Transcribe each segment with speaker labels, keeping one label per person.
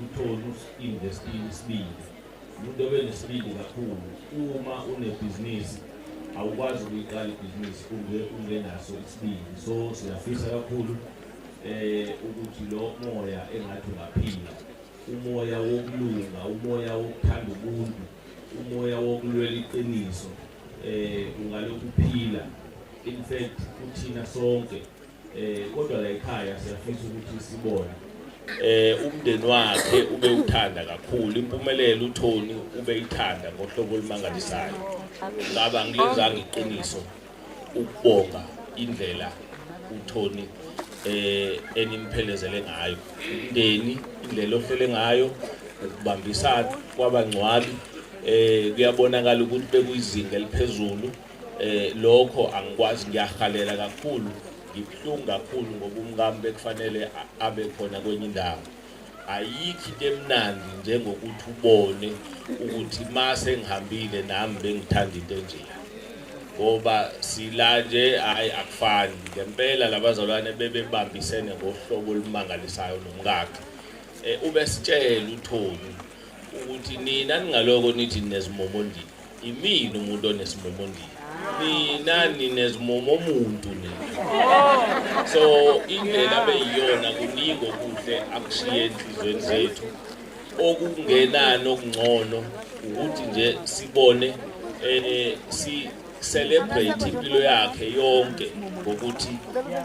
Speaker 1: Uthole usinvestile isibindi umuntu obenesibindi kakhulu uma unebhizinisi awukwazi ukuyiqala ibhizinisi unge ungenaso isibindi so siyafisa kakhulu eh ukuthi lo moya engathi ungaphila umoya wokulunga umoya wokuthanda ubuntu umoya wokulwela iqiniso eh ungalokhu phila in fact uthina sonke Eh kodwa la ekhaya siyafisa ukuthi sibone eh umndeni wakhe ube uthanda kakhulu impumelelo uThoni ube ithanda ngohlobo olumangalisayo ngaba ngilenzanga iqiniso ukubonga indlela uThoni eh enimphelezele ngayo umndeni indlela ohlele ngayo ukubambisana kwabangcwabi eh kuyabonakala ukuthi bekuyizinga eliphezulu eh lokho angikwazi ngiyahalela kakhulu ngibuhlungu kakhulu ngoba umkami bekufanele abe khona kwenye indawo ayikho into emnandi njengokuthi ubone ukuthi mase ngihambile nami bengithanda into enjena ngoba sila nje hayi akufani ngempela labazalwane bebebambisene ngohlobo olumangalisayo nomkakhe eh, ubesitshela uthoni ukuthi nina ningaloko nithi nezimomo ndini Imina umuntu onesimomo ndini. Nina ninezimomo omuntu nina. So indlela beyiyona kuningi okuhle akushiye enhlizweni zethu. Okungenani okungcono ukuthi nje sibone eh si celebrate impilo yakhe yonke ngokuthi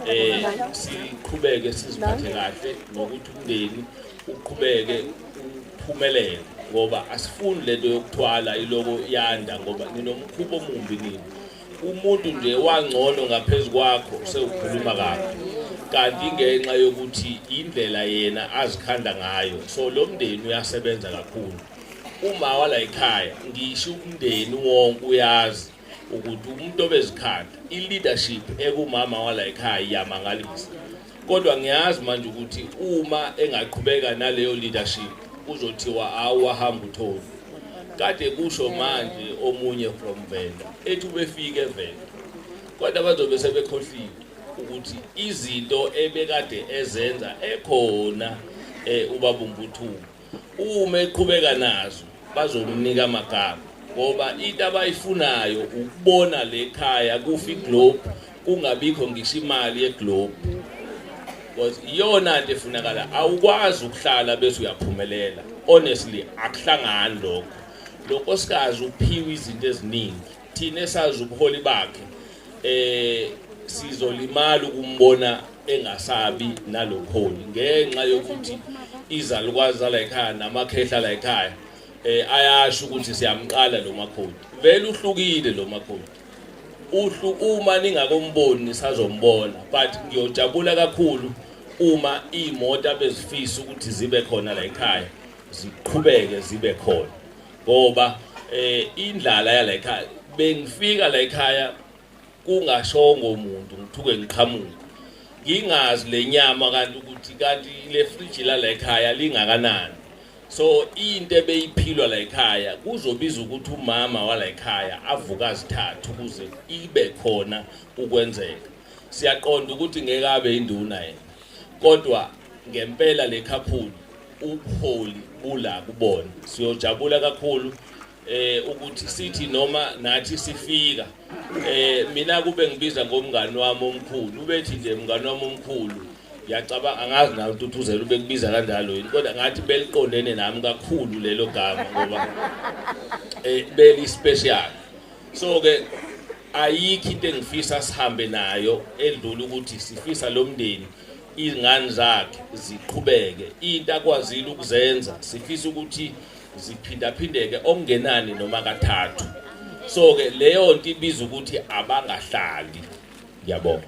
Speaker 1: eh siqhubeke siziphathe kahle nokuthi umndeni uqhubeke phumelele ngoba asifuni lento yokuthwala iloko yanda ngoba ninomkhuba omumbi nini umuntu nje wangcono ngaphezu kwakho sewukhuluma kabi kanti ngenxa yokuthi indlela yena azikhanda ngayo so lo mndeni uyasebenza kakhulu uma wala ekhaya ngisho umndeni wonke uyazi ukuthi umuntu obezikhanda i-leadership ekumama wala ekhaya iyamangalisa kodwa ngiyazi manje ukuthi uma engaqhubeka naleyo leadership kuzothiwa awahamba uthoni kade kusho manje omunye from venda ethi ubefike venda kodwa bazobe sebekhohliwe ukuthi izinto ebekade ezenza ekhona um eh, ubabumbuthungu uma eqhubeka nazo bazomnika amagama ngoba into abayifunayo ukubona le khaya kufa iglobe kungabikho ngisho imali yeglobe because iyona nto efunakala awukwazi ukuhlala bese uyaphumelela honestly akuhlangani lokho lo nkosikazi uphiwe izinto eziningi Thina esazi ubuholi bakhe eh sizolimala ukumbona engasabi nalokholi ngenxa yokuthi izalukwazi la ekhaya namakhehla la ekhaya eh ayasho ukuthi siyamqala lo makhodi vele uhlukile lo makhodi uhlu uma ningakomboni nisazombona but ngiyojabula kakhulu uma imoto abezifisa ukuthi zibe khona la ekhaya ziqhubeke zibe khona ngoba eh indlala yala ekhaya bengifika la ekhaya kungashongo umuntu ngithuke ngiqhamuka ngingazi lenyama kanti ukuthi kanti le fridge la la ekhaya lingakanani so into ebeyiphilwa la ekhaya kuzobiza ukuthi umama wala ekhaya avuka zithathu ukuze ibe khona ukwenzeka siyaqonda ukuthi ngeke abe induna yena kodwa ngempela le khaphuli ubuholi bula kubona siyojabula kakhulu eh ukuthi sithi noma nathi sifika eh mina kube ngibiza ngomngani wami omkhulu ubethi nje mngani wami omkhulu ngiyacabanga angazi nawe ututhuzela ubekubiza kanjalo yini kodwa ngathi beliqondene nami kakhulu lelo gama ngoba eh beli special so ke ayikho into engifisa sihambe nayo edlula ukuthi sifisa lo mndeni izingane zakhe ziqhubeke into akwazile ukuzenza sifisa ukuthi ziphindaphindeke okungenani noma kathathu so ke leyo nto ibiza ukuthi abangahlali ngiyabonga